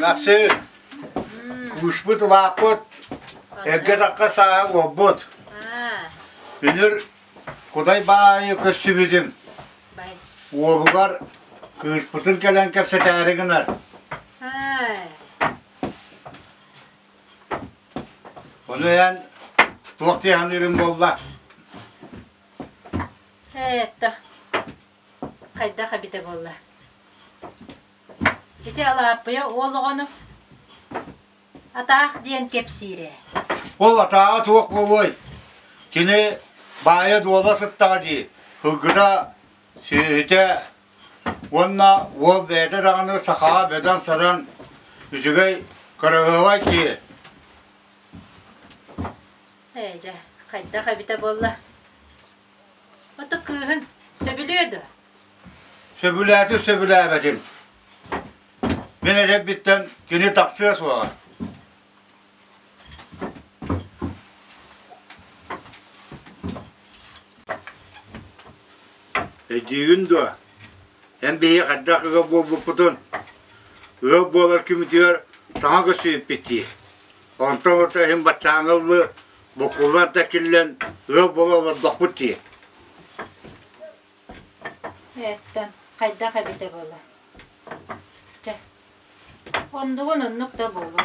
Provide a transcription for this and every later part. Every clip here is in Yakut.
Нахсы, кууспут, улааппыт, эргэ-такка саа уолбут. Үнүр кудай баайы көссүбүтүм. Уолугар кыыспытын кэлэн кэпсэтээри гынар. Ону эн туох диһаныырым буолла? хайдах эбитэ буолла ити алааппыйа уол оҕону атаах диэн кэпсиир ээ ол атааҕа туох буолуой кини баайа дуола сыттаҕа дии кылгыта сүөһүтэ уонна уол бэйэтэ даҕаны сахаҕа бөдөҥ саран үчүгэй көрөһүөҕэй дии ээ дьэ хайдах эбитэ буолла Ото кыыһын сөбүлүө да? Сөбүлээтим, сөбүлээбэтим. Мин эдэрбиттэн кини тахсыа суоҕа. Өйдүүгүн дуо? Эн биһиги хайдах ыга буолбуппутун? Ыал буолар күммүтүгэр таҥа көрсүбүппүт дии. Онтон-онто иһин баччааҥҥа ыллы Буккуллар да киллэн, ыал буола олордохпут дии. Эттэн, хайдах эбитэ буола? Чэ, ондугун оннук да буолуо.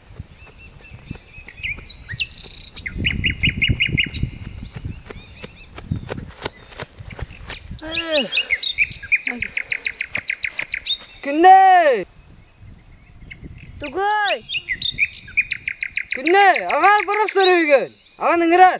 Күннэй! Тугай! Күннэй, аҕаан барахсар үгүн! Аҕан ыҥырар!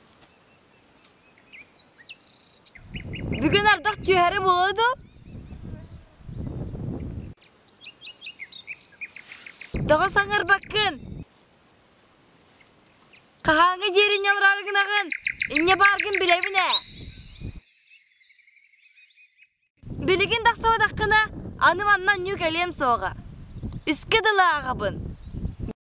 Бүгүн ардах түһэри буолуо дуу? Тоҕо саҥарбаккын? Хаһааҥҥы диэри ньалраары гынаҕын? Инньэ бааргын билэбин ээ. Билигин тахсыбатаххына, аны манна ньүү кэлиэм суоҕа. Искэ дылы ааҕабын.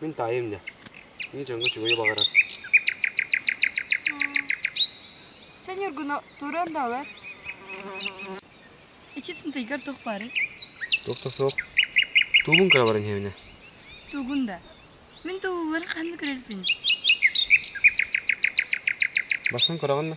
Мин таайым да. Мин дьоҥҥо үчүгэйи баҕарар. Чэ Ньургуну туруон да олор. Ичипсин тыйгар туох бары? Туох да суох. Туубун кырабарын иһэбинэ. Тугун да. Мин туубулларын ханна көрөрбүнж? Барсан кыраҕын да.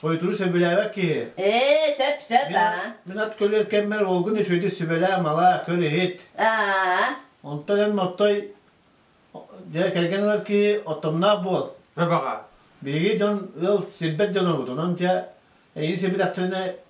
Хойутуру сөбүлээбэт киһи. Ээ, сөп-сөп, аа. Мин ат көлүөр кэммэр уолгун үчүгэйдик сүбэлээх-малаа, көр-иһит. Аа. Онтон эн Нортой, дьэ, кэргэн ылар киһи оттомноох буол. Сөп, аҕаа. Биһиги дьон, ыал, сирбэт дьонобут, онон, дьэ, эйигин сирбитэхтэринэ,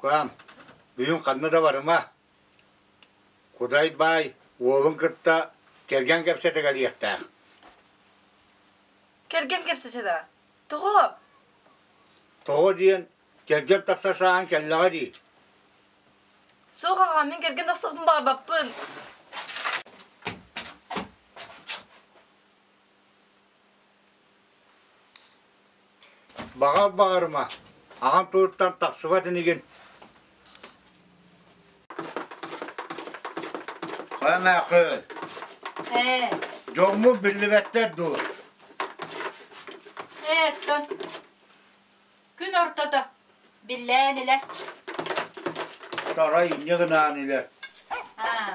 Куам, бүгүн ханна да барыма. Кудай баай уолун кытта кэргэн кэпсэтэ кэлиэхтээх. Кэргэн кэпсэтэ да. Тоҕо? Тоҕо диэн кэргэн тахса сааһын кэллэҕэ дии. Суох аҕа, мин кэргэн тахсыбын баҕарбаппын. Баҕар баҕарыма, аҕам тылыттан тахсыбат инигин Хайа Мээхүл? Ээ. Дьоҥҥу биллибэттэр дуу? Ээ, тон. Күн ортото. Биллээн илэ. Тарай инньэ гынаан илэ. Аа.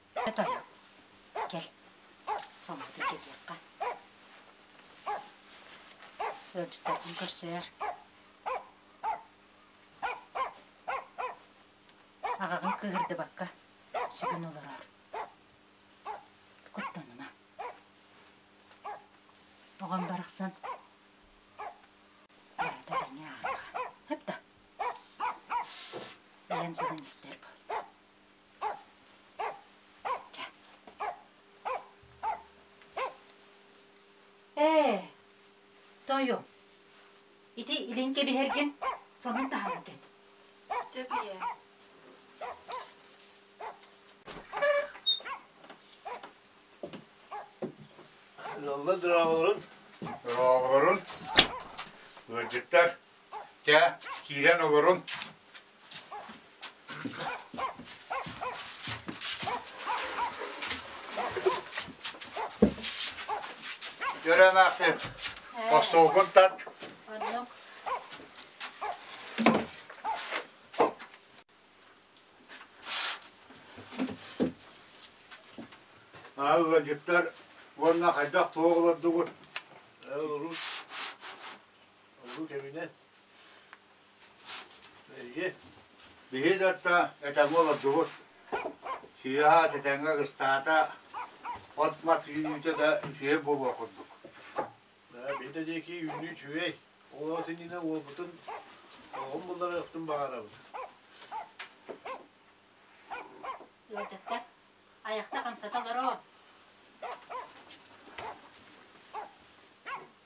Ээ тойо, кэл, Сомоту кэтиэххэ. Ыалдьыттартан көрсөөр. Аҕаҕын кыыһырдыбакка, сүгүн олороор. Куттаныма. Оҕом барахсан, барыта тэҥэ ааҕаҕа. Хэп да? Ийэн тугун истэр бу? Ээ, тойу, ити илин кэбиһэргин сонун таһаҕын кэт. Сөп ийээ. Лалла драҕаларын, драҕаларын, ыалдьыттар, Чэ, киирэн олорун. Дөрөөн аахсын. Остуолгун тат. Оннук. Аа, ыалдьыттар уонна хайдах туох олордугут? Урус. Ордук эбинэ. Эйи. Биһи датта этамол ордубут. Сыыһа тэтэҥҥэ кыстаата, от-мат үүнүүтэ да үчүгэй буолуо курдук. Биһи диэки үүнүү үчүгэй. Ол иннинэ уолбутун оҕом булларыахтын баҕарабыт. Ыалдьыттар, айахта хамсата олороо.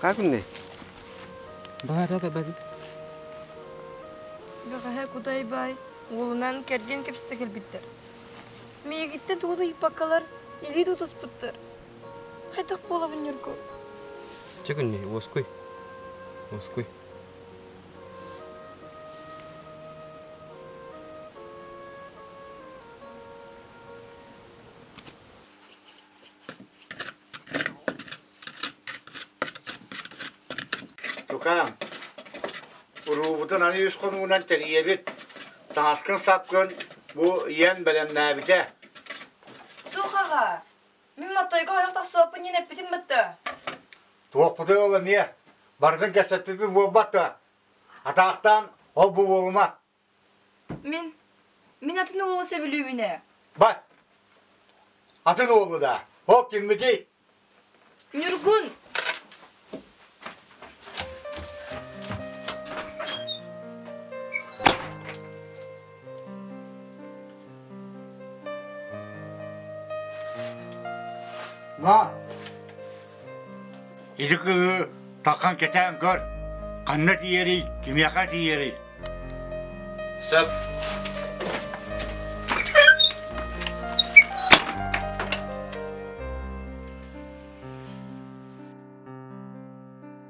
Как мне? Баара да бari. Бэҕэһэ Кутай баай уолунан кэрдиэн кэпсэтэ кэлбиттэр. Миигитте тугу ыйпаккалар илии тутуспуттар. Хайдах буолабын Ньурку? Чэгүнни, уоскуй. Уоскуй. Тукаам, уруубутун аны үс хонугунан тэрийэбит. Таҥаскын-сапкын бу ийэн бэлэмнээбитэ. Суох аҕа, мин моттойго ойох тахсыаппын диэн эппитим бытта. Туохпутуй ол эмиэ? Барытын кэпсэппиппит буолбат да. Атаахтаан ол бу буолума. Мин... мин атын уолу сөбүлүүбүн ээ. Бар! Атын уолу да. Ол киммитий? Ньургун! Ма, Ити кыыһы тахан кэтээн көр, ханна тиийэрий, кимиэхэ тиийэрий? Сөп.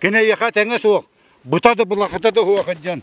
Кини эйиэхэ тэҥэ суох, бута да былахыта да суох дьон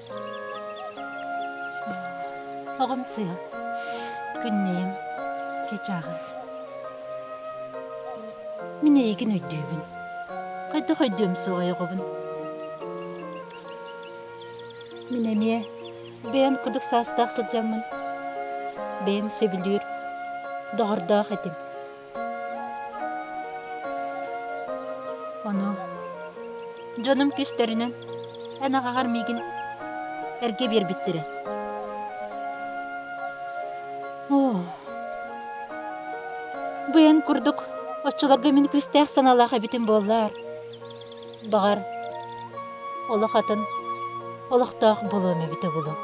Оҕомсуйа, күннэйим, чачааҕым. Мин эйигин өйдүүбүн. Хайдах өйдүөм суоҕай оҕобун? Мин эмиэ бэйэм курдук саастаах сылдьаммын, бэйэм сөбүлүүр, доҕордоох этим. Ону дьонум кистэринэн эн аҕаҕар миигин эргэ биэрбиттэрэ. Оо, бу эн курдук оччолорго мин күүстээх санаалаах эбитим буоллар. Баҕар, олох атын, олохтоох буолуом эбитэ буолуо.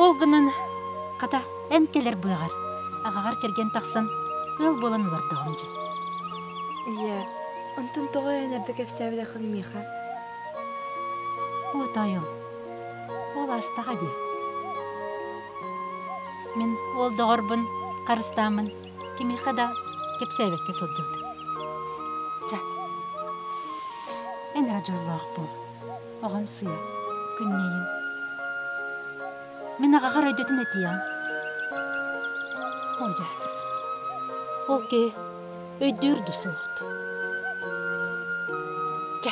Ол гынан, хата, эн кэлэр быаҕар, аҕаҕар кэргэн тахсан, ыал буолан олордоҕуҥ дии. Ийээ, онтон тоҕо эн эрдэ кэпсээбэтэххин миэхэ? От ойуун, ол астаҕа дии. Мин уол доҕорбун, харыстааммын кимиэхэ да кэпсээбэккэ сылдьыбыт. Чэ, эн эрэ дьоллоох буол, оҕом сыыйа, күннэйин. Мин аҕаҕар өйдөтөн этийэҕин. Оо дьэ, ол киһи өйдүүр да суохт. Дьэ,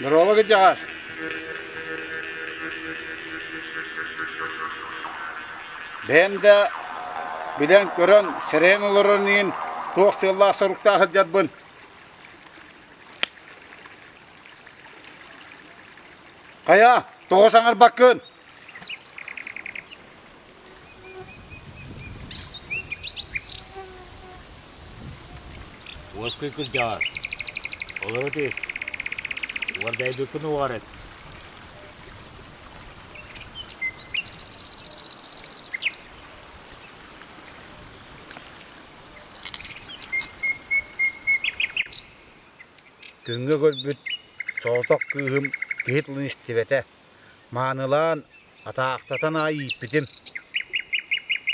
Здорово, Гаджаш! Бээн да билэн көрөн, сирэйин олорон иин туох сыаллаах соруктаах сылдьарбын. Хайа, тоҕо саҥарбаккын? Уоскуй кырдьаҕас. Олоро түс. Уордайбыккын уоҕарыт. Күҥҥэ көрбүт соҕотох кыыһым киһи тылын истибэтэ Маанылаан атаахтатан аайы ииппитим.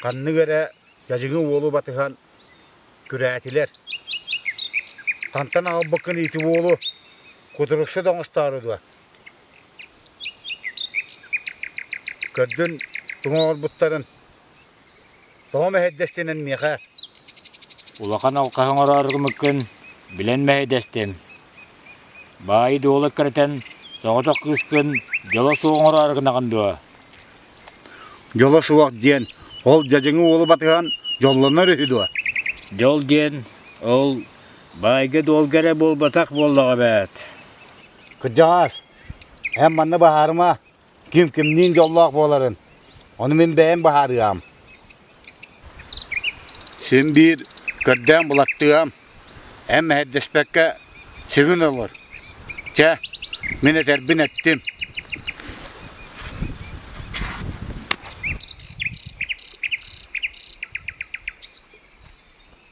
Ханнык эрэ дьадьыгы уолу батыһан күрээтилэр. Хантан аҕалбыккын иити уолу кутурукса да оҥостоору дуо? Көрдүн туҥа оҥорбуттарын Тоҕо мэһэйдэстинэн миэхэ улахан алҕаһы оҥорооргумуккун билэн мэһэйдэстим. Баайы-дуола кэрэтэн, соҕотох кыыскын дьоло суох оҥороор гынаҕын дуо? Дьоло суох диэн ол дьадьыҥы уолу батыһан дьоллонор үһү дуо? Дьол диэн ол баайга-дуолга эрэ буолбатах буоллаҕа эбээт. Кырдьаҕаас, эн манна баһаарыма. ким кимниин дьоллоох буоларын ону мин бэйэм быһаарыам син биир көрдөөн булаттыам эн мэһэйдэспэккэ сыгын олор чэ мин этэрбин эттим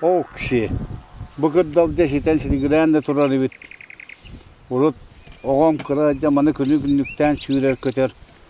Ол киһи бу кырдал дьэ ситэн силигирээн да турар эбит. Урут оҕом кыра дьэ маны күнү-күннүктээн сүүрэр-көтөр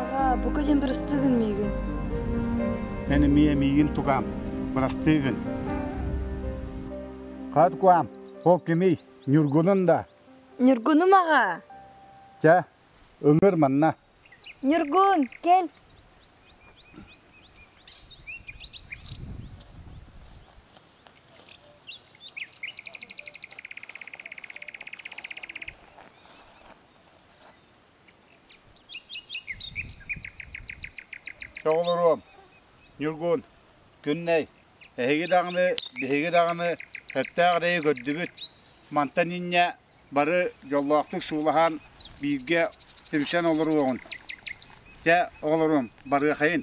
Аҕаа, бука диэн бырастыы миигин. Эн эмиэ миигин тугаам. Бырастыы гын. Хат куам, ол кимий? Ньургунун да. Ньургунум аҕаа. Чэ, өҥөр манна. Ньургун, кэл. Оҕолоруом, Ньургун, Күннэй, эһиги даҕаны, биһиги даҕаны эттээх эрэйи көрдүбүт. Мантан инньэ бары дьоллоохтук суулаһан бииргэ түмсэн олоруоҕун. Дьэ, оҕолоруом, барыахайын!